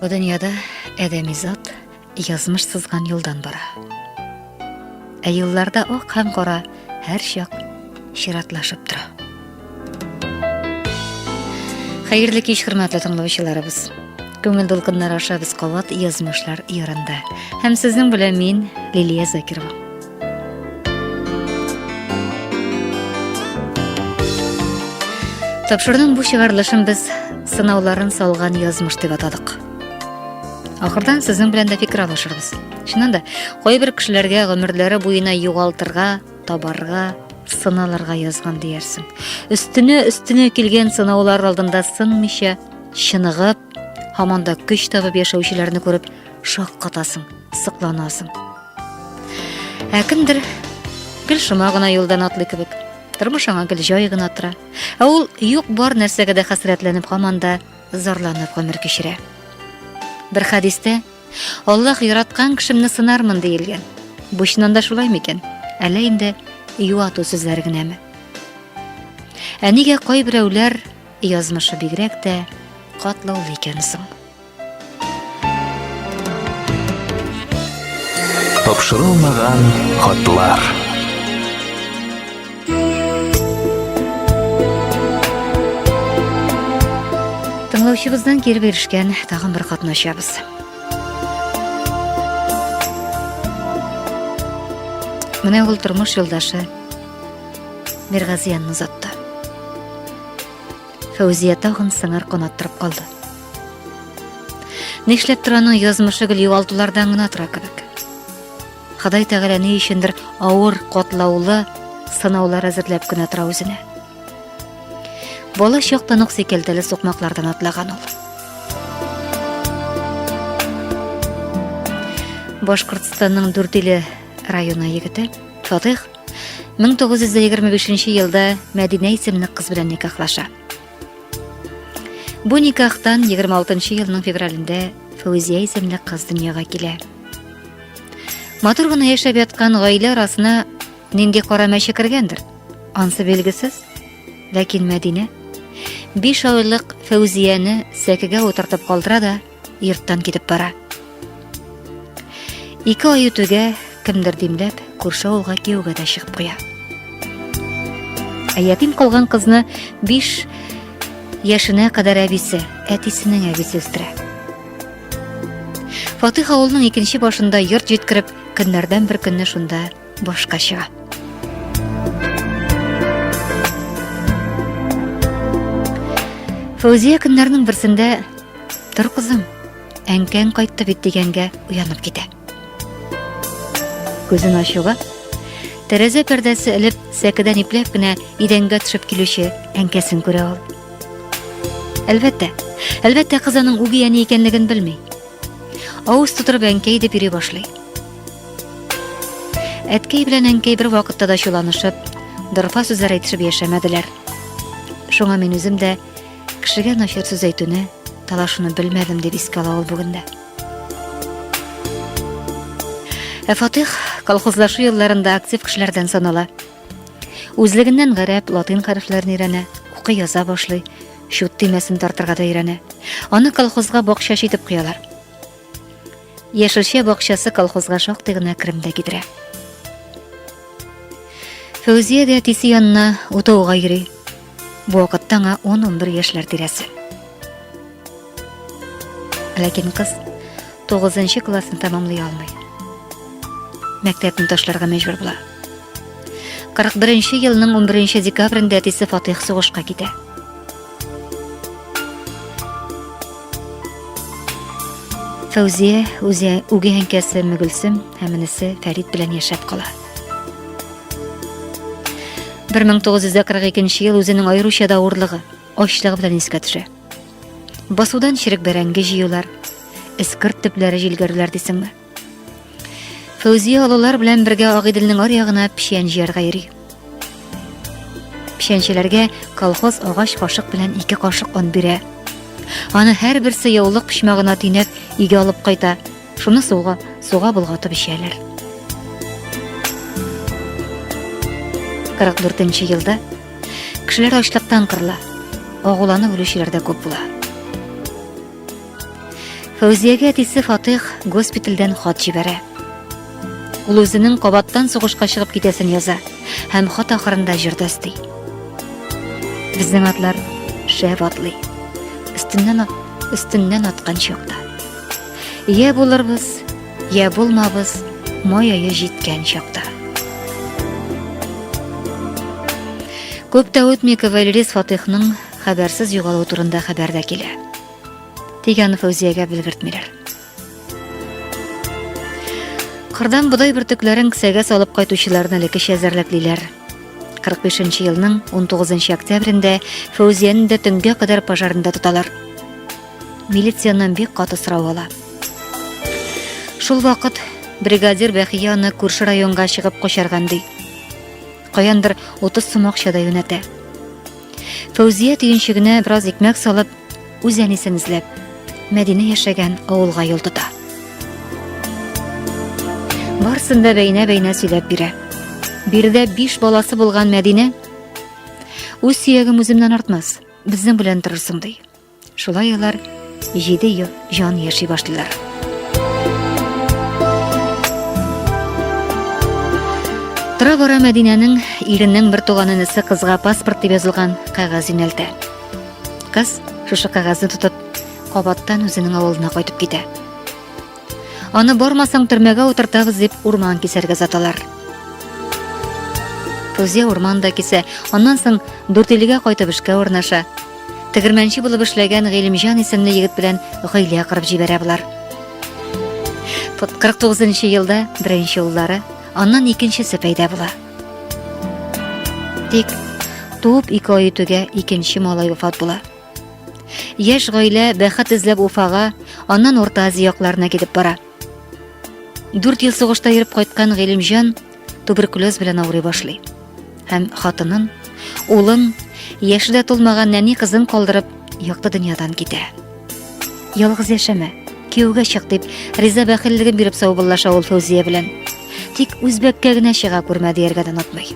Бу дөньяда әдәми зат язмыш сызган юлдан бара. Ә юлларда ак һәм кара һәр чак чиратлашып тора. Хәерле кич, хөрмәтле тыңлаучыларыбыз. Күңел дулкыннары аша без кабат язмышлар ярында. Һәм сезнең белән мин Лилия Закирова. Тапшырның бу чыгарылышын без сынауларын салган язмыш дип атадык. Ахырдан сезнең белән дә фикер алышырбыз. Чыннан да, кайбер кешеләргә гомерләре буена югалтырга, табарга, сыналарга язган диярсең. Өстенә өстенә килгән сынаулар алдында сынмыйча, чыныгып, һаман да көч табып яшәүчеләрне күреп, шаккатасың, сыкланасың. Ә кемдер гел шома гына юлдан атлый кебек. Тормыш аңа гел җай гына тора. Ә ул юк бар нәрсәгә дә хәсрәтләнеп һаман да зарланып гомер кичерә. Бер хәдистә Аллаһ яраткан кешемне сынармын диелгән. Бу чыннан да шулай микән? Әллә инде юату сүзләре генәме? Ә нигә кайберәүләр язмышы бигрәк тә катлаулы икән соң? Тапшырылмаган хатлар. Тыңлаучыбыздан кире беришкән тагын бер хатны ачабыз. Менә ул тормыш юлдашы Миргазиянне озатты. Фәүзия тагын сыңар канат торып калды. Нишләп тораның язмышы гел югалтулардан гына тора кебек. Ходай Тәгалә ни өчендер авыр, котлаулы сынаулар әзерләп кенә тора үзенә. Бала чактан ук сикелтеле сукмаклардан атлаган ул. Башкортстанның Дүртиле районы егете Фатих 1925 елда Мәдинә исемле кыз белән никахлаша. Бу никахтан 26 елның февралендә Фәүзия исемле кыз дөньяга килә. Матур гына яшәп яткан гаилә арасына нинди кара мәче кергәндер? Ансы билгесез. Ләкин Мәдинә биш айлык Фәүзияне сәкегә утыртып калдыра да йорттан китеп бара. Ике ай үтүгә кемдер димләп, күрше авылга кияүгә дә чыгып куя. Ә ятим калган кызны 5 яшенә кадәр әбисе, әтисенең әбисе үстерә. Фатих авылның икенче башында йорт җиткереп, көннәрдән бер көнне шунда башка чыга. Фәүзия көннәрнең берсендә Тор кызым, әнкәң кайтты бит дигәнгә уянып китә. Күзен ачуга, тәрәзә пәрдәсе элеп, сәкедән ипләп кенә идәнгә төшеп килүче әнкәсен күрә ул. Әлбәттә, әлбәттә кыз аның үги әни икәнлеген белми. Авыз тутырып әнкәй дип йөри башлый. Әткәй белән әнкәй бер вакытта да чуланышып, дорфа сүзләр әйтешеп яшәмәделәр. Шуңа мин үзем дә кешегә начар сүз әйтүне, талашуны белмәдем дип искә ала ул бүгендә. Ә Фатих колхозлашу елларында актив кешеләрдән санала. Үзлегеннән гарәп, латин хәрефләрен өйрәнә, укы яза башлый, чут төймәсен тартырга да өйрәнә. Аны колхозга бакчачы итеп куялар. Яшелчә бакчасы колхозга шактый гына керем дә китерә. Фәүзия дә әтисе янына утауга йөри. Бу вакытта аңа 10-11 яшьләр тирәсе. Ләкин кыз 9 классны тәмамлый алмый. Мәктәпне ташларга мәҗбүр була. 41 елның 11 декабрендә әтисе Фатих сугышка китә. Фәүзия үзе үгәй әнкәсе Мөгелсем һәм энесе Фәрид белән яшәп кала. 1942 ел үзенең аеруча да урлыгы, ачлыгы белән искә төшә. Басудан чирек бәрәңге җыюлар, эскорт төпләре җилгәрүләр дисеңме? Фәүзия олылар белән бергә Агыйделнең аръягына печән җыярга йөри. Печәнчеләргә колхоз агач кашык белән ике кашык он бирә. Аны һәрберсе яулык почмагына төйнәп, өйгә алып кайта. Шуны суга, суга болгатып эчәләр. 44 елда кешеләр ачлыктан кырыла. Агуланы үлүчеләр дә күп була. Фәүзиягә әтисе Фатих госпитальдән хат җибәрә. Ул үзенең кабаттан сугышка чыгып китәсен яза һәм хат ахырында җырда өсти. Безнең атлар шәп атлый. Өстеннән өстеннән аткан чакта. Йә булырбыз, йә булмабыз, май ае җиткән чакта. Күп тә үтми Кавалерис Фатихның хәбәрсез югалуы турында хәбәр дә килә. Тик аны Фәүзиягә белгертмиләр. Кырдан бодай бөртекләрен кесәгә салып кайтучыларны элеккечә әзерләплиләр. 45 елның 19 октябрендә Фәүзияне дә төнгә кадәр пожарында тоталар. Милицияннан бик каты сорау ала. Шул вакыт бригадир Бәхия аны күрше районга чыгып качарган ди. Каяндыр 30 сум акча да юнәтә. Фәүзия төенчегенә бераз икмәк салып, Үз әнисен эзләп, Мәдинә яшәгән авылга юл тота. Барсын да бәйнә-бәйнә сөйләп бирә. Биредә биш баласы булган Мәдинә үз сөягем үземнән артмас, безнең белән торырсың ди. Шулай алар 7 ел җан яши башлыйлар. Тора бара Мәдинәнең иренең бер туган энесе кызга паспорт дип язылган кәгазь юнәлтә. Кыз, шушы кәгазьне тотып, кабаттан үзенең авылына кайтып китә. Аны бармасаң төрмәгә утыртабыз дип урман кисәргә заталар. Фузия урман да кисә, аннан соң Дүртилегә кайтып эшкә урнаша. Тегермәнче булып эшләгән Гыйлемҗан исемле егет белән гаилә кырып җибәрә болар. 49 елда беренче уллары, аннан икенчесе пәйда була. Тик туып ике ай үтүгә икенче малай вафат була. Яшь гаилә бәхет эзләп Уфага, аннан Урта Азия якларына китеп бара. Дүрт ел сугышта йөреп кайткан Гыйлемҗан туберкулез белән авырый башлый. Һәм хатынын, улын, яши дә тулмаган нәни кызын калдырып, якты дөньядан китә. Ялгыз яшәмә, кияүгә чык дип, Риза бәхиллеген биреп саубыллаша ул Фәүзия белән. Тик үзбәккә генә чыга күрмә дияргә дә онытмый.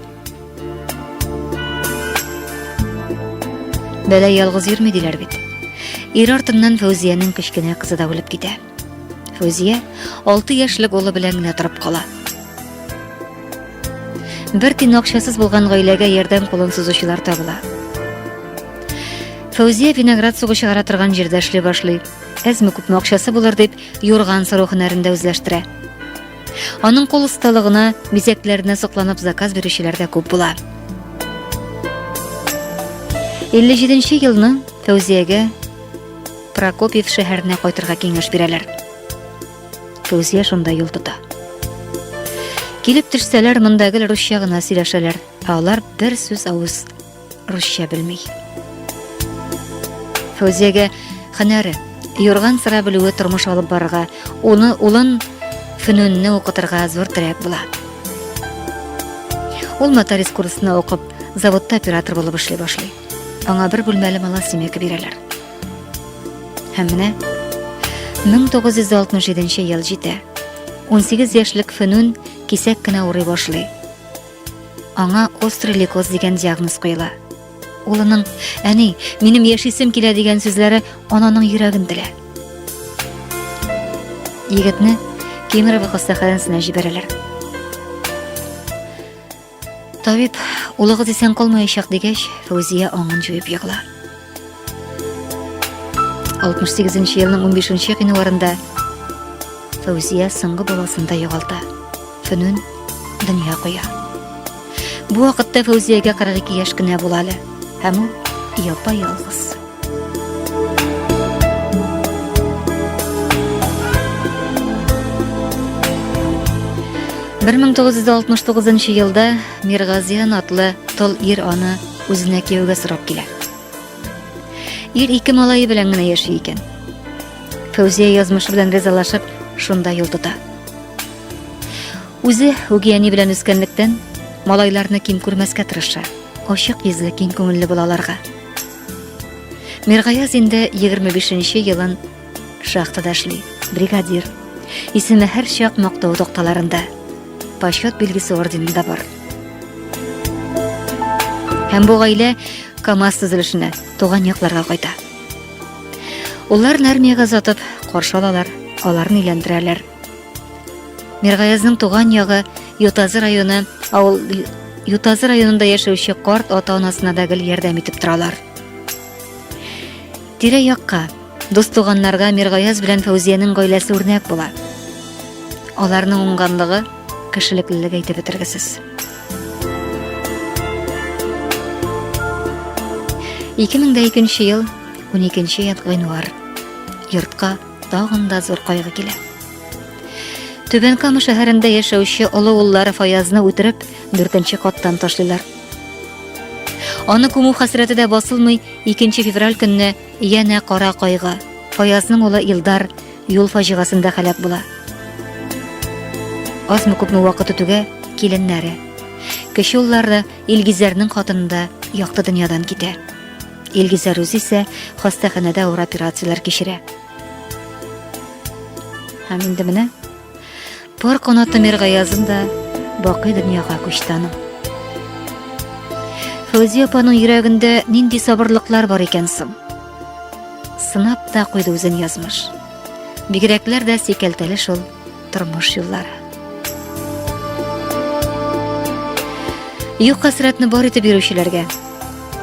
Бәлә ялгыз йөрми диләр бит. Ир артыннан Фәүзиянең кечкенә кызы да үлеп китә. Фәүзия 6 яшьлек улы белән генә торып кала. Бер тин акчасыз булган гаиләгә ярдәм кулын сузучылар табыла. Фәүзия виноград сугы чыгара торган җирдә эшли башлый. Әзме күпме акчасы булыр дип, юрган сыру һөнәрен дә үзләштерә. Аның кул осталыгына, бизәкләренә сокланып заказ бирүчеләр дә күп була. 57 елны Фәүзиягә Прокопьев шәһәренә кайтырга киңәш бирәләр. Күз яшь анда юл тота. Килеп төшсәләр, монда гел русча гына сөйләшәләр, ә алар бер сүз авыз русча белми. Фәүзиягә хәнәре, юрган сыра белүе тормыш алып барырга, уны улын фөнүнне укытырга зур терәк була. Ул нотариус курсына укып, заводта оператор булып эшли башлый. Аңа бер бүлмәле малосемейка бирәләр. Һәм менә 1967 ел җитә. 18 яшьлек Фенун кисәк кенә урый башлый. Аңа острый лейкоз дигән диагноз куела. Улының "Әни, минем яшисем килә" дигән сүзләре ананың йөрәген телә. Егетне Кемерово хастаханәсенә җибәрәләр. Табиб, улыгыз исән калмаячак дигәч, Фәүзия аңын җуеп егыла. 68 нче елның 15 нче гыйнварында Фәүзия соңгы баласын да югалта. Фөнүн дөнья куя. Бу вакытта Фәүзиягә 42 яшь кенә була әле, һәм ул япа-ялгыз. Бер мең тугыз йөз алтмыш тугызынчы елда Миргазиян атлы тол ир аны үзенә кияүгә сорап килә. Ир ике малайы белән генә яши икән. Фәүзия язмышы белән ризалашып, шунда юл тота. Үзе үгияни белән үскәнлектән, малайларны ким күрмәскә тырыша. Ачык йөзле, киң күңелле булаларга. Миргаяз инде 25 нче елын шахтада эшли, бригадир. Исеме һәр чак мактау токталарында. Почет билгесе орденында бар. Һәм бу гаилә КАМАЗ төзелешенә, туган якларга кайта. Улларын армиягә озатып, каршы алалар, аларны өйләндерәләр. Миргаязның туган ягы Ютазы районы, авыл Ютазы районында яшәүче карт ата-анасына да гел ярдәм итеп торалар. Тирә-якка, дус туганнарга Миргаяз белән Фәүзиянең гаиләсе үрнәк була. Аларның уңганлыгы, кешелеклелеге әйтеп бетергесез. Ике мең дә икенче ел, уникенче январь. Йортка Тагын да зур кайгы килә. Түбән Кама шәһәрендә яшәүче олы уллары Фаязны үтереп, дүртенче каттан ташлыйлар. Аны күмү хәсрәте дә басылмый, 2 февраль көнне янә кара кайгы. Фаязның улы Илдар юл фаҗигасында хәләк була. Азмы күпме вакыт үтүгә киленнәре. Кече уллары Илгизәрнең хатынында якты дөньядан китә. Илгизәр үзе исә хастаханәдә авыр операцияләр кичерә. Һәм инде менә пар канаты Миргаязын да бакый дөньяга күчте аның. Фәүзия апаның йөрәгендә нинди сабырлыклар бар икән соң? Сынап та куйды үзен язмыш. Бигрәкләр дә сикәлтәле шул тормыш юллары. Юк хәсрәтне бар итеп йөрүчеләргә,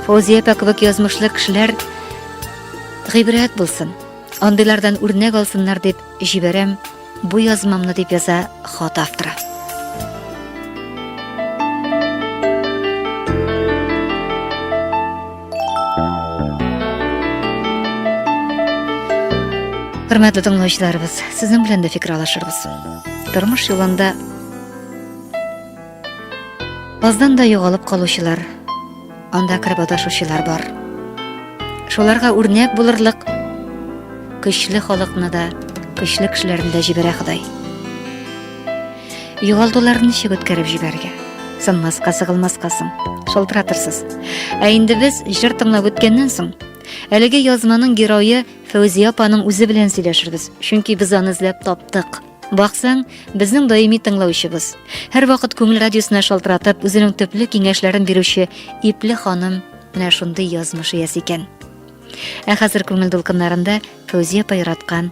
Фозия апа кебек язмышлы кешеләр гыйбрәт булсын, андыйлардан үрнәк алсыннар дип җибәрәм бу язмамны дип яза хат авторы. Хөрмәтле тыңлаучыларыбыз, сезнең белән дә фикер алышырбыз. Тормыш юлында аздан да югалып калучылар, анда кереп адашучылар бар. Шуларга үрнәк булырлык көчле халыкны да, көчле кешеләрне дә җибәрә Ходай. Югалтуларны ничек үткәреп җибәрергә? Сынмаска, сыгылмаска соң. Шалтыратырсыз. Ә инде без җыр тыңлап үткәннән соң, әлеге язманың герое Фәүзия апаның үзе белән сөйләшербез, чөнки без аны эзләп таптык. Баксаң, безнең даими тыңлаучыбыз. Һәрвакыт күңел радиосына шалтыратып, үзенең төпле киңәшләрен бирүче ипле ханым менә шундый язмыш иясе икән. Ә хәзер күңел дулкыннарында Фәүзия апа яраткан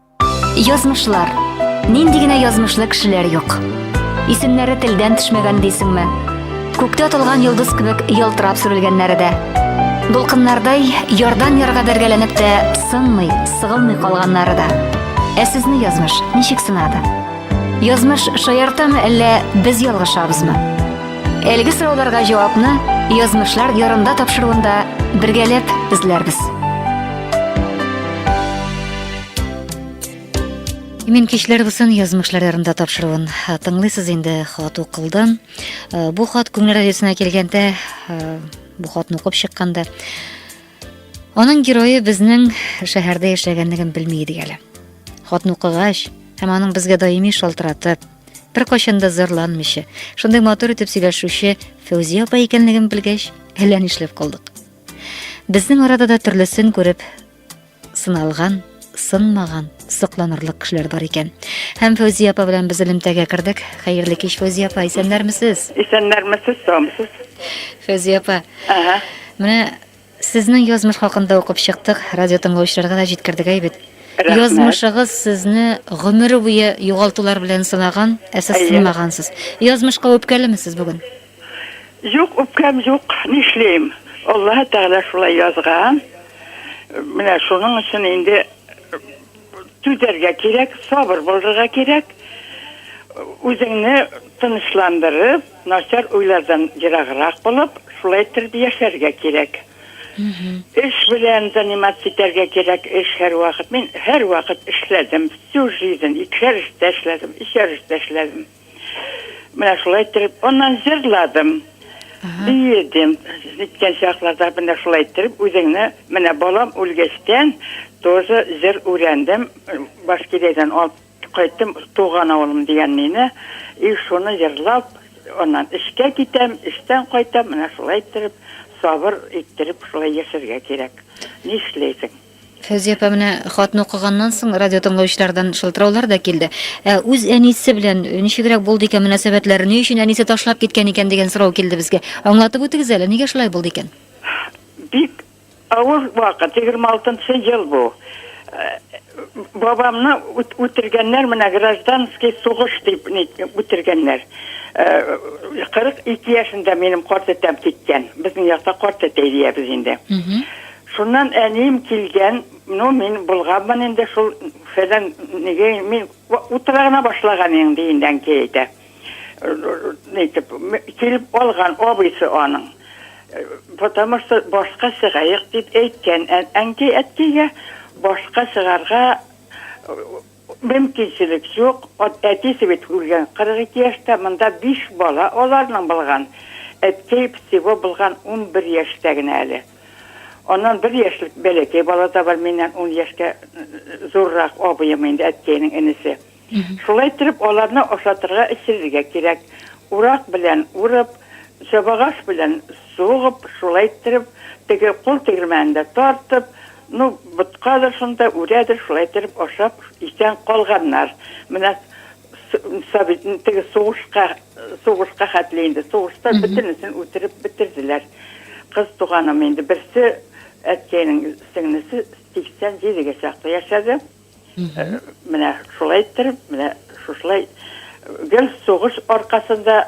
Язмышлар. Нинди генә язмышлы кешеләр юк. Исемнәре телдән төшмәгән дисеңме? Күктә атылган йолдыз кебек ялтырап сүрелгәннәре дә. Дулкыннардай ярдан ярга бәргәләнеп тә сынмый, сыгылмый калганнары да. Ә сезне язмыш ничек сынады? Язмыш шаяртамы әллә без ялгышабызмы? Әлеге сорауларга җавапны язмышлар ярында тапшыруында бергәләп эзләрбез. Имин кичләр булсын, язмышлар ярында тапшыруын. Ә, Тыңлыйсыз инде хат укылдан. Ә, Бу хат күңел радиосына килгәндә, ә, бу хатны укып чыкканда, аның герое безнең шәһәрдә яшәгәнлеген белми идек әле. Хатны укыгач, һәм аның безгә даими шалтыратып, бер кайчан да зарланмыйча, шундый матур итеп сөйләшүче Фәүзия апа икәнлеген белгәч, әллә нишләп калдык. Безнең арада да төрлесен күреп, сыналган, сынмаган, сокланырлык кешеләр бар икән. Һәм Фәүзия апа белән без элемтәгә кердек. Хәерле кич, Фәүзия апа, исәннәрмесез? Исәннәрмесез, саумсыз. Фәүзия апа. Ага. Менә сезнең язмыш хакында укып чыктык, радио тыңлаучыларга да җиткердек әйбет. Язмышыгыз сезне гомер буе югалтулар белән сылаган, ә сез сынмагансыз. Язмышка үпкәлеме сез бүген? Юк, үпкәм юк, нишлим. Аллаһы Тәгалә шулай язган. Менә шуның өчен инде түзәргә кирәк, сабыр булырга кирәк. Үзеңне тынычландырып, начар уйлардан ераграк булып, шулай иттереп яшәргә кирәк. Эш белән заниматься итәргә кирәк, эш һәрвакыт. Мин һәрвакыт эшләдем, всю жизнь икешәр эштә эшләдем, өчәр эштә эшләдем. Менә шулай иттереп, аннан җырладым. Биедем. Җиткән чакларда менә шулай иттереп, үзеңне, менә балам үлгәчтән, тоже җыр үрәндем. Башкирәдән алып кайттым, туган авылым дигән мине. И шуны җырлап, аннан эшкә китәм, эштән кайтам, менә шулай иттереп, сабыр иттереп шулай яшәргә кирәк. Нишләйсең? Фәүзия апа менә хатны укыганнан соң радио тыңлаучылардан шылтыраулар да килде. Ә үз әнисе белән ничегрәк булды икән мөнәсәбәтләре? Ни өчен әнисе ташлап киткән икән дигән сорау килде безгә. Аңлатып үтегез әле, нигә шулай булды икән? Бик авыр вакыт, 26 ел бу. Э, бабамны үтергәннәр, менә гражданский сугыш дип үтергәннәр. 42 э, яшендә минем карт әтәм киткән. Безнең якта карт әтәй диябез инде. Шуннан әнием килгән, ну, мин болганмын инде шул, фәлән, нигә мин утыра гына башлаган идем, дигәндә әнкәй әйтә. Нитеп, килеп алган абыйсы аның. Потому что башка чыгаек дип әйткән әнкәй әткәйгә, башка чыгарга, Мөмкинчелек юк, әтисе бит үлгән 42 яшьтә, монда биш бала аларның булган, әткәй всего булган унбер яшьтә генә әле. Аннан бер яшьлек бәләкәй бала да бар, миннән ун яшькә зуррак абыем инде, әткәйнең энесе. Шулай иттереп, аларны ашатырга, эчерергә кирәк. Урак белән урып, чабагач белән сугып, шулай иттереп, теге кул тегермәнендә тартып, Ну, боткадыр шунда, үрәдер, шулай иттереп ашап исән калганнар. Менә совет, теге сугышка, сугышка хәтле инде, сугышта бөтенесен үтереп бетерделәр. Кыз туганым инде, берсе әткәйнең сеңлесе 87 гә чаклы яшәде. Э, менә шулай иттереп, менә шушылай гел сугыш аркасында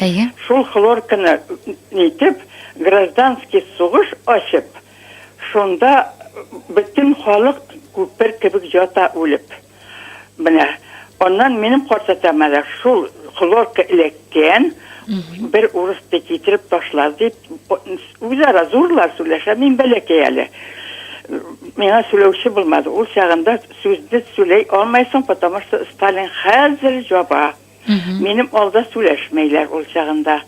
Әйе. Шул хлорканы нитеп, гражданский сугыш ачып, шунда бөтен халык күпер кебек ята үлеп. Менә. Аннан минем картатам әле шул хлорка эләккән, бер урыс ди китереп ташлар дип, үзара зурлар сүләшә, мин бәләкәй әле. Миңа сүләүче булмады. Ул чагында сүзне сүләй алмайсың, потому что Сталин хәзер җаба. Минем алда сүләшмәйләр ул чагында.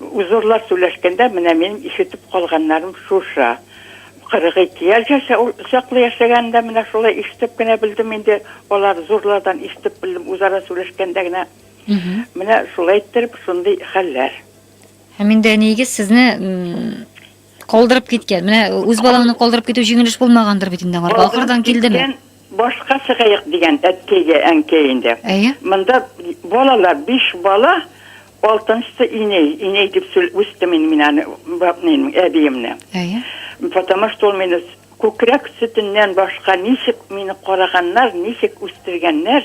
Узурлар сүләшкәндә менә минем ишетеп калганнарым шушы. 42 яшь яшә ул чаклы яшәгәнен дә менә шулай ишетеп кенә белдем инде. Алар зурлардан ишетеп белдем үзара сүләшкәндә генә. Менә шулай иттереп шундый хәлләр. Һәм инде әниегез сезне Калдырып киткән. Менә үз балаңны калдырып китү җиңел эш булмагандыр бит инде аңарга. Ахырдан килдеме? Башка чыгаек дигән әткәйгә әнкәй инде. Әйе. Монда балалар, биш бала, алтынчысы инәй. Инәй дип үстем инде мин аны, әбиемне. Әйе. Потому что ул мине Күкрәк сөтеннән башка ничек мине караганнар, ничек үстергәннәр,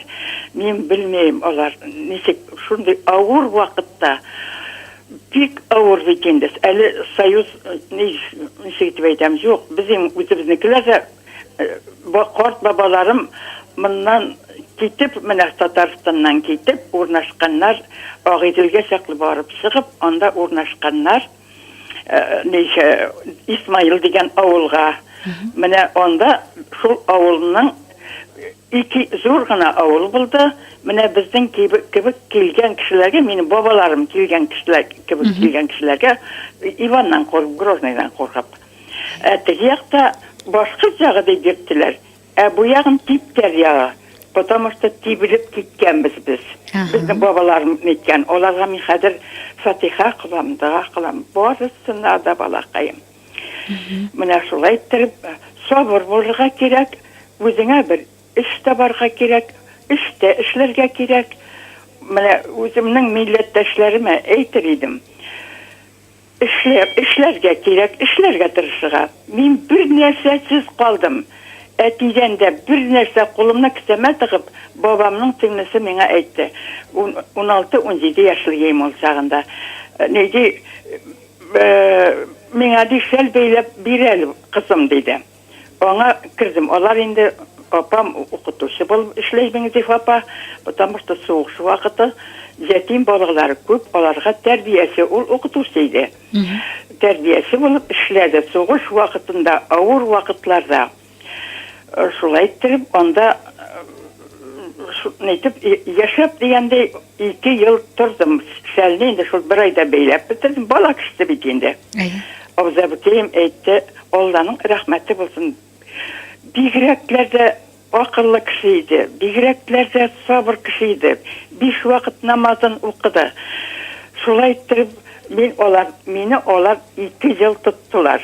мин белмим, алар ничек шундый авыр вакытта, бик авыр бит инде, әле союз, ничек итеп әйтәм, юк, безнең үзебезнекеләр дә, карт бабаларым моннан китеп, менә Татарстаннан китеп, урнашканнар, Агыйделгә чаклы барып чыгып, анда урнашканнар. э, ник э, Исмаил дигән авылга. Менә анда шул авылның ике зур гына авыл булды. Менә безнең кебек, кебек килгән кешеләргә, минем бабаларым килгән кешеләр кебек килгән кешеләргә Иваннан куркып, Грозныйдан куркып. Ә теге якта башкорт ягы дип йөрттеләр. Ә бу ягын типтәр ягы. Потому что тибелеп киткәнбез без. Безнең бабаларым әйткән. Аларга мин хәзер фатиха кылам, дога кылам. Барысына да балакаем. Менә шулай иттереп, сабыр булырга кирәк, үзеңә бер эш табарга кирәк, эштә эшләргә кирәк. Менә үземнең милләттәшләремә әйтер идем. Эшләп, эшләргә кирәк, эшләргә тырышырга. Мин бернәрсәсез калдым. Әтидән дә бернәрсә кулымны кесәмә тыгып, бабамның сеңлесе миңа әйтте. Ун, уналты, унҗиде яшьлегем ул чагында. Ни ди, Миңа, ди, шәл бәйләп бир әле, кызым, диде. Аңа кердем. Алар инде апам укытучы булып эшләй, Миңзиф апа, потому что сугыш вакыты ятим балалар күп, аларга тәрбияче, ул укытучы иде. Тәрбияче булып эшләде. Сугыш вакытында, авыр вакытларда шулай иттереп анда нитеп яшәп дигәндәй ике ел тордым. Шәлне инде шул бер айда бәйләп бетердем. Бала кешесе бит инде. Әйе. Абзабикәем әйтте, Алланың рәхмәте булсын. Бигрәкләр дә акыллы кеше иде, бигрәкләр дә сабыр кеше иде. Биш вакыт намазын укыды. Шулай иттереп, мин алар, мине алар ике ел тоттылар.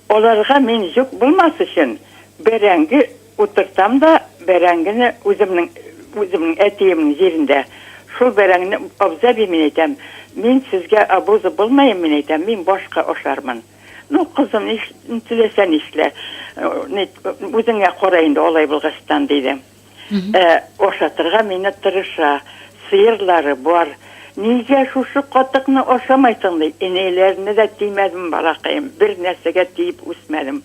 Аларга мин йөк булмас өчен, бәрәңге утыртам да, бәрәңгене үземнең, үземнең әтиемнең җирендә, шул бәрәңгене, абзый әби, мин әйтәм, мин сезгә обуза булмаем, мин әйтәм, мин башка ашармын. Ну, кызым, ни теләсә нишлә. Үзеңә кара инде алай булгачтан, диде. Ә ашатырга мине тырыша. Сыерлары бар. Нигә шушы катыкны ашамайсың, ди. Энеләренә дә тимәдем, балакаем. Бер нәрсәгә тиеп үсмәдем.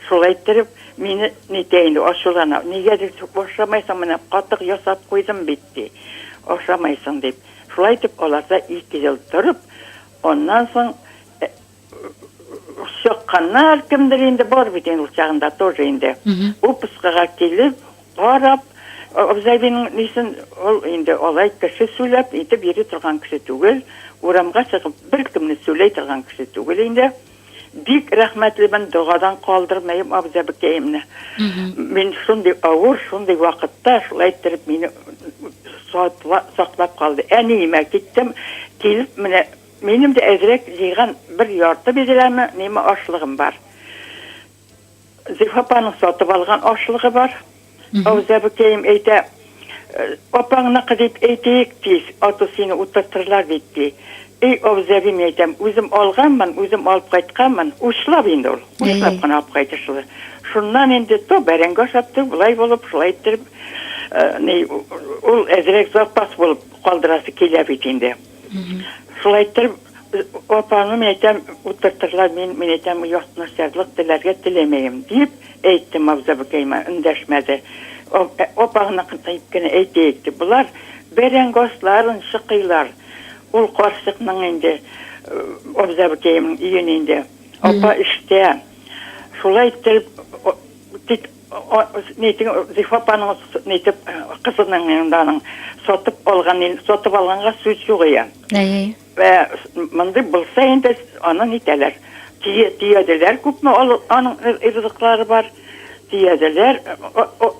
Шулай иттереп, мине нитә инде, ачулана. Нигә дип ашамайсың, менә катык ясап куйдым бит, ди. Ашамайсың, дип. Шулай итеп, аларда ике ел торып, аннан соң чакканнар, кемдер инде бар бит инде ул чагында тоже инде. Бу пыскыга килеп, карап, Абзайбинең нисен ул инде алай кеше сөйләп итеп йөри торган кеше түгел, урамга чыгып беркемне сөйләй торган кеше түгел инде. Бик рәхмәтлемен, догадан калдырмыйм абзабекәемне. Мин шундый авыр, шундый вакытта шулай иттереп мине саклап калды. Әниемә киттем, килеп менә Минем дә әзрәк җыйган бер ярты бидрәме ниме ашлыгым бар. Зифа апаның сатып алган ашлыгы бар. Авызәбекәем әйтә, Апаңныкы дип әйтик тиз, аты сине утыртырлар бит, ди. И, Авызәби, мин әйтәм, үзем алганмын, үзем алып кайтканмын, учлап инде ул, учлап кына алып кайтышлы. Шуннан инде то бәрәңге ашап, то болай булып, шулай иттереп, ни, ул әзрәк запас булып калдырасы килә бит инде. Шулай иттереп, апаңны, мин әйтәм, утыртырлар, мин, мин әйтәм, ятнасярлык теләргә теләмәем, дип әйтте Мавзабыкәйма, эндәшмәде. Апаңны кытыйп кенә әйтәйек, дип, болар бәрәңге асларын чыкыйлар. Ул карчыкның инде, Абзабыкәемнең өен инде. Апа эштә. Шулай иттереп, тик. Нитең, Зифа апаның нитеп кызының инде аның сатып алган, сатып алганга сүз юк ия. Әйе. Вә мондый булса инде аны нитәләр? Тие, тиеделәр күпме аның ризыклары бар. Тиеделәр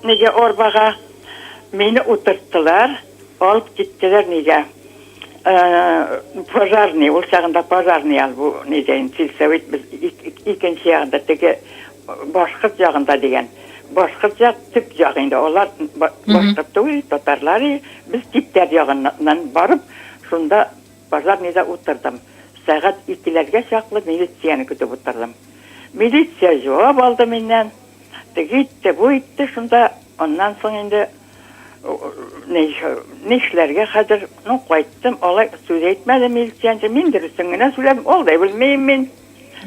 нигә арбага. Мине утырттылар, алып киттеләр нигә? Пожарный, ул чагында пожарный алып, нигә инде сельсовет без икенче ягында теге Башкорт ягында дигән. Башкорт як төп як инде. Алар башкорт түгел, татарлар. Без типтәр ягыннан барып, шунда пожарныйда утырдым. Сәгать икеләргә чаклы милицияне көтеп утырдым. Милиция җавап алды миннән. Теге итте, бу итте шунда. Аннан соң инде нишләргә хәзер? Ну, кайттым. Алай сүз әйтмәде милициянче. Мин дөресен генә сүләдем. Ул да белмим мин.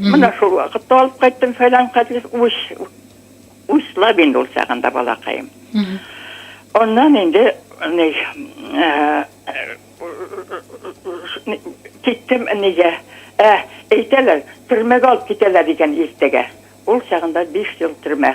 Менә шул вакытта алып кайттым фәлән кадис уч учлап инде ул чагында балакаем. Аннан инде ни э, киттем нигә? Ә, әйтәләр, төрмәгә алып китәләр дигән иртәгә. Ул чагында 5 ел төрмә.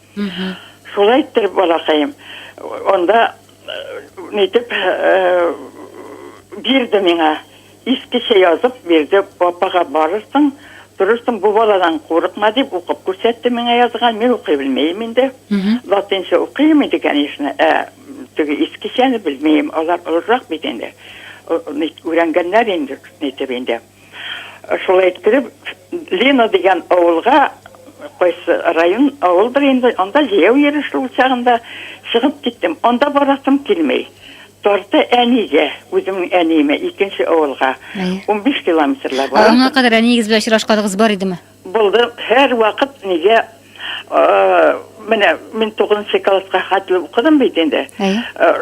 Шулай иттереп, балакаем, анда нитеп бирде миңа, искечә язып бирде, апага барырсың, торырсың, бу баладан курыкма, дип укып күрсәтте миңа язган, мин укый белмим инде, латинча укыйм инде, конечно, ә теге искечәне белмим, алар олырак бит инде, өйрәнгәннәр инде, нитеп инде. Шулай иттереп, Лена дигән авылга, кайсы район, авыл бер инде, анда җәяү йөрү шул чагында чыгып киттем. Анда барасым килми. Тарты әнигә, үземнең әниемә, икенче авылга. Әйе. Унбиш километрлар бар. Аңа кадәр әниегез белән очрашканыгыз бар идеме? Булды һәр вакыт нигә менә мин тугызынчы класска хәтле укыдым бит инде.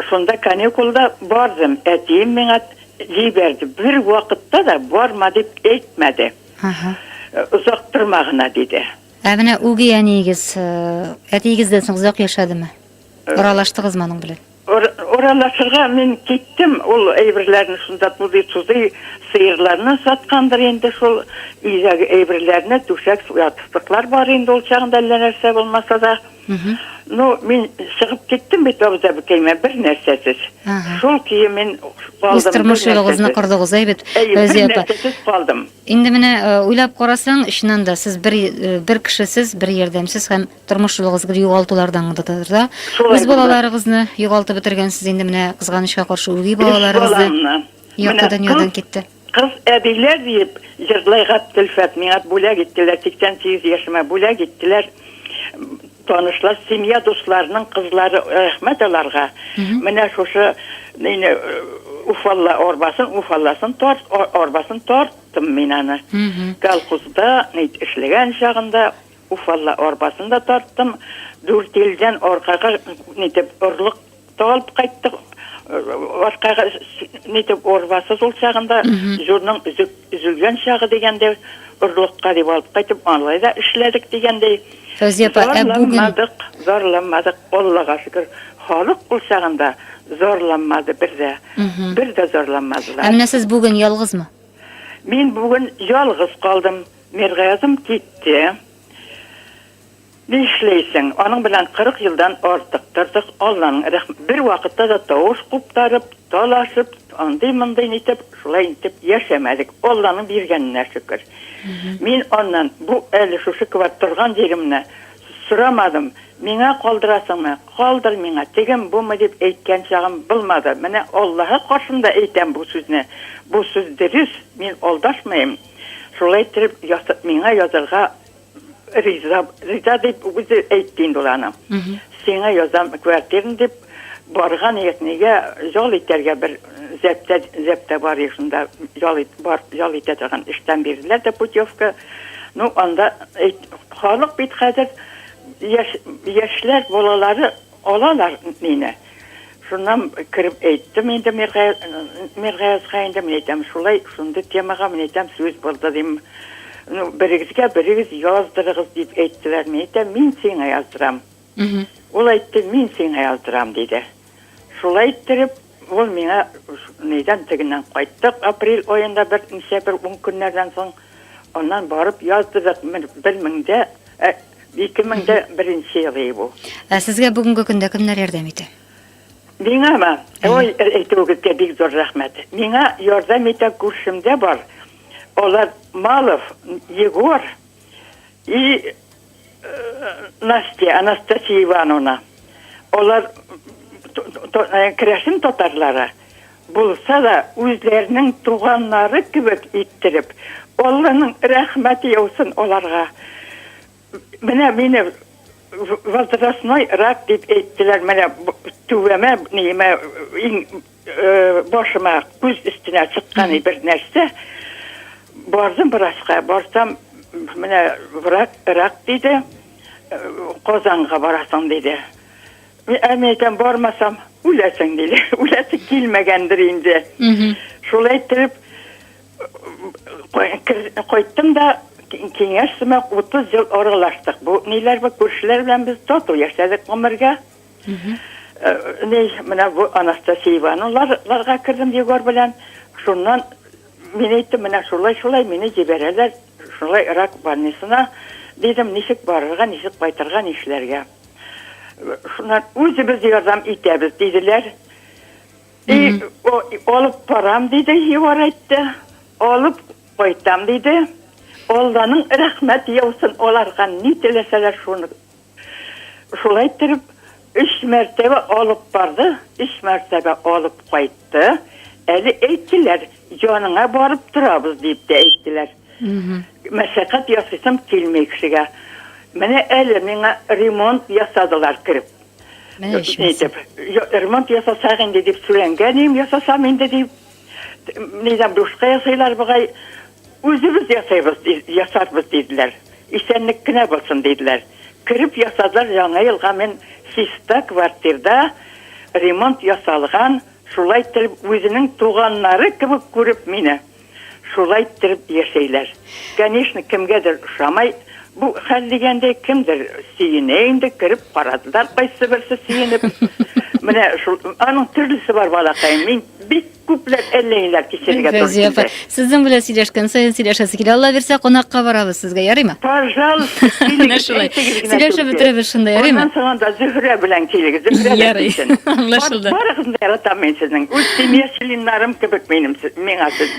Шунда каникулда бардым. Әтием миңа җибәрде. Бер вакытта да барма дип әйтмәде. Озак торма гына диде. Ә менә үги әниегез әтиегездән соң озак яшәдеме? Аралаштыгызмы аның белән? Уралашырга мин киттем, ул әйберләрне шунда тузый-тузый, сыерларны саткандыр инде шул, өйдәге әйберләрне, түшәк, ятыслыклар бар инде ул чагында әллә нәрсә булмаса да. Ну, мин чыгып киттем бит абзабикәемә бер нәрсәсез. Шул көе мин калдым. Үз тормыш юлыгызны кордыгыз, әй бит, Фәүзия апа. Нәрсәсез калдым. Инде менә уйлап карасаң, чыннан да сез бер бер кешесез, бер ярдәмсез һәм тормыш юлыгыз бер югалтулардан да үз балаларыгызны югалтып бетергәнсез инде менә кызганычка каршы үги балаларыгызны якты дөньядан китте кыз әбиләр диеп җырлый габделфәт миңа бүләк иттеләр сиксән сигез яшемә бүләк иттеләр танышлар семья дусларының кызлары рәхмәт аларга менә шушы э, уфалла арбасын уфалласын тарт арбасын тарттым мин аны колхозда эшләгән чагында Уфалла арбасын да тарттым. Дүрт елдан аркага нитеп орлык та алып кайттык. Аркага нитеп арбасы шул чагында җурның өзелгән чагы дигәндә орлыкка дип алып кайтып алай да эшләдек дигәндәй. Фәүзия апа, ә бүген зарланмадык, Аллага шөкер. Халык ул чагында зарланмады бер дә. Бер дә зарланмадылар. Ә менә сез бүген ялгызмы? Мин бүген ялгыз калдым. Миргаязым китте. Нишләйсең, аның белән 40 елдан артык тордык, Алланың рәхмәте. Бер вакытта да тавыш куптарып, талашып, андый-мондый нитеп, шулай итеп яшәмәдек. Алланың биргәненә шөкер. Мин аннан бу әле шушы кебек торган җиремне сорамадым. Миңа калдырасыңмы, калдыр миңа, тегем-бумы дип әйткән чагым булмады. Менә Аллаһы каршында әйтәм бу сүзне. Бу сүз дөрес, мин алдашмыйм. Шулай иттереп, миңа язарга риза, риза дип үзе әйтте инде ул аны. Сиңа язам квартираны дип барган ек, нигә ял итәргә бер зәптә, зәптә бар ек, шунда ял, ит, бар, ял итә торган эштән бирделәр дә путевка. Ну, анда халык бит хәзер яшь, яшьләр, балалары Алалар мине. Шуннан кереп әйттем инде Миргаязга инде, мин әйтәм, шулай, шундый темага, мин әйтәм, сүз барды, дим. Ну, берегезгә берегез яздырыгыз, дип әйттеләр. Мин әйтәм, мин сиңа яздырам. Ул әйтте, мин сиңа яздырам, диде. Шулай иттереп, Ул миңа, Нидән тегеннән кайттык, апрель аенда бер ничә бер ун көннәрдән соң, аннан барып яздыдык, бер мең дә, ә, ике мең дә беренче ел иде бу. Ә сезгә бүгенге көндә кемнәр ярдәм итә? Миңамы? Ой, әйтүегезгә бик зур рәхмәт. Миңа ярдәм итә күршемдә бар, алар Малов Егор и, Настя, Анастасия Ивановна, алар керәшен татарлары булса да, үзләренең туганнары кебек иттереп, Алланың рәхмәте яусын аларга. Менә мине возрастной рак дип әйттеләр, менә түбәмә, ниемә, иң Э, башыма күз өстенә чыкканы бер нәрсә бардым врачка барсам менә врач рак диде э, казанга барасың диде ә мен әйтәм бармасам үләсең диде үләсе килмәгәндер инде шулай итеп кайттым да киңәш сымак утыз ел аралаштык бу ниләр бу күршеләр белән без тату яшәдек гомергә Ней, менә бу Анастасиеваны ларга кердем Егор белән. Шуннан мин әйттем, менә шулай, шулай мине җибәрәләр, шулай рак больницына дидем, ничек барырга, ничек кайтырга, нишләргә. Шуннан үзебез ярдәм итәбез диделәр. И, алып барам диде, Егор әйтте. Алып кайтам диде. Алланың рәхмәт яусын аларга, ни теләсәләр шуны Шулай иттереп, өч мәртәбә алып барды, өч мәртәбә алып кайтты. Әле әйттеләр, яныңа барып торабыз, дип тә әйттеләр. Мәшәкать ясыйсым килми кешегә. Менә әле миңа ремонт ясадылар кереп. Менә итеп. Ремонт ясасак инде дип сүрәнгә дим, ясасам инде дип. Нидән бушка ясыйлар бугай. Үзебез ясыйбыз, ясарбыз, диделәр. Исәнлек кенә булсын, диделәр. Кереп ясадылар, Яңа елга мин чиста квартирда ремонт ясалган, шулай иттереп үзенең туганнары кебек күреп мине, шулай иттереп яшәйләр. Конечно, кемгәдер ошамай бу хәл дигәндәй, кемдер сөенә инде, кереп карадылар кайсы берсе сөенеп. Менә шул, аның төрлесе бар, балакаем, мин бик Күпләп әллә ниләр кичерергә туры Фәүзия апа, килде. сезнең белән сөйләшкән саен сөйләшәсе килә. Алла бирсә, кунакка барабыз сезгә, ярыймы? Пожалуйста, Менә килегез, шулай. әйтегез генә Сөйләшеп түгел. бетерәбез шунда, ярыймы? Аннан соң анда Зөһрә белән килегез, Зөһрә дә Ярый, килсен. Бар, аңлашылды. барыгызны да яратам мин сезнең. Үз семья членнарым кебек минем, се- миңа сез,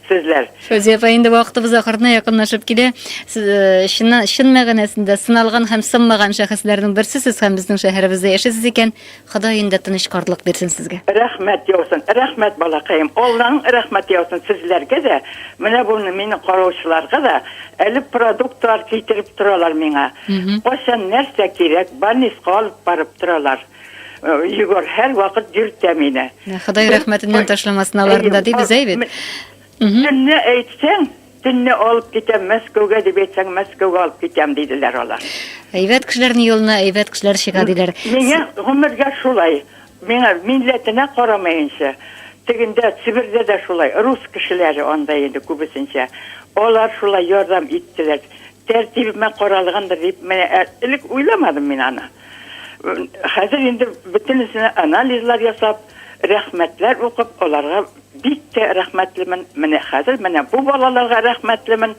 сезләр. Фәүзия апа, инде вакытыбыз ахырына якынлашып килә. Сез, э, чыннан, чын мәгънәсендә сыналган һәм сынмаган шәхесләрнең берсесез һәм безнең шәһәребездә яшисез икән, Ходай инде тыныч картлык бирсен сезгә. Рәхмәт яусын, рәхмәт балакаем, Алланың рәхмәте яусын сезләргә дә, менә бу мине караучыларга да, әле продуктлар китереп торалар миңа, кайчан нәрсә кирәк, больниска алып барып торалар, Егор һәрвакыт йөртә мине. Ходай рәхмәтеннән ташламасын аларны да, ди Безәй бит. Кемне әйтсәң, Төнне алып китәм Мәскәүгә, дип әйтсәң, Мәскәүгә алып китәм, диделәр алар. Әйбәт кешеләрнең юлына әйбәт кешеләр чыга, диләр. Миңа гомергә шулай. Миңа милләтенә карамаенча, тегендә, Себердә дә шулай, рус кешеләре анда инде күбесенчә. Алар шулай ярдәм иттеләр. Тәртибемә каралгандыр дип, менә элек уйламадым мин аны. Хәзер инде бөтенесенә анализлар ясап, рәхмәтләр укып, аларга Бик тә рәхмәтлемен, менә хәзер менә бу балаларга рәхмәтлемен,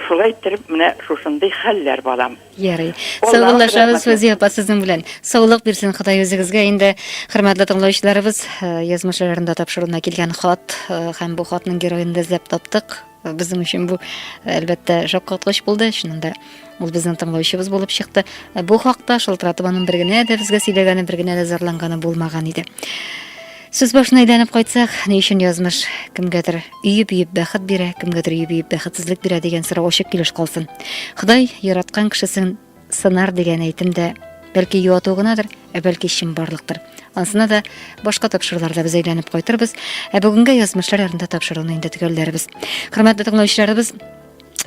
шулай иттереп менә шушындый хәлләр балам. Ярый. Саубуллашабыз Фәүзия апа сезнең белән. Саулык бирсен Ходай үзегезгә. Инде хөрмәтле тыңлаучыларыбыз, э, язмыш айларында тапшыруына килгән хат э, һәм бу хатның героен да эзләп таптык. Безнең өчен бу, әлбәттә, шаккаткыч булды. Чынында ул безнең тыңлаучыбыз булып чыкты. Бу хакта шылтыратып аның бер генә дә безгә сөйләгәне, бер генә дә зарланганы булмаган иде. Сүз башына әйләнеп кайтсак, ни өчен язмыш кемгәдер өеп-өеп бәхет бирә, кемгәдер өеп-өеп бәхетсезлек бирә дигән сорау ачык килеш калсын. Ходай яраткан кешесен Сынар дигән әйтем дә бәлки юату гынадыр, ә бәлки чынбарлыктыр. Ансына да башка тапшыруларда без әйләнеп кайтырбыз, ә бүгенгә язмышлар ярында тапшыруны инде төгәлләрбез. Хөрмәтле тыңлаучыларыбыз,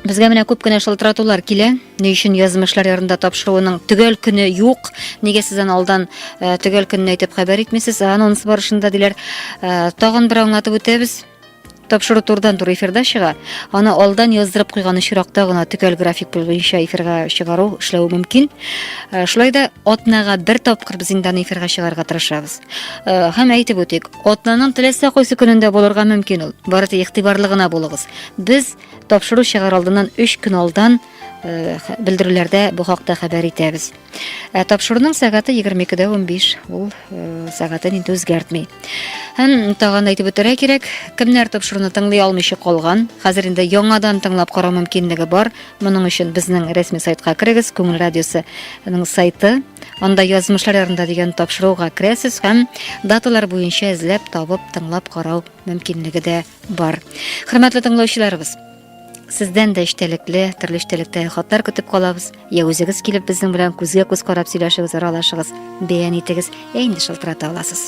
Безгә менә күп кенә шылтыратулар килә. Ни өчен язмышлар ярында тапшыруының төгәл көне юк? Нигә сез аны алдан э, төгәл көнне әйтеп хәбәр итмисез? Анонс барышында диләр. Э, тагын бер аңлатып үтәбез. Тапшыру турдан тур эфирда чыга. Аны алдан яздырып куйган очракта гына төгәл график буенча эфирга чыгару эшләү мөмкин. Э, шулай да атнага бер тапкыр без инде аны эфирга чыгарга тырышабыз. Э, һәм әйтеп үтик, атнаның теләсә кайсы көнендә булырга мөмкин ул. Бары тик игътибарлы гына булыгыз. Без тапшыру чыгар алдыннан 3 көн алдан белдерүләрдә бу хакта хәбәр итәбез. Ә тапшыруның сәгате 22-дә 15, ул сәгатен инде үзгәртми. Һәм тагын әйтеп үтәргә кирәк, кемнәр тапшыруны тыңлый алмыйча калган, хәзер инде яңадан тыңлап карау мөмкинлеге бар. Моның өчен безнең рәсми сайтка керегез, Күңел радиосының сайты. Анда язмышлар ярында дигән тапшыруга керәсез һәм даталар буенча эзләп табып тыңлап карау мөмкинлеге дә бар. Хөрмәтле тыңлаучыларыбыз, Сездән дә эчтәлекле, төрле эчтәлектә хатлар көтеп калабыз. Я үзегез килеп безнең белән күзгә күз карап сөйләшегез, аралашыгыз, бәян итегез, я инде шылтырата аласыз.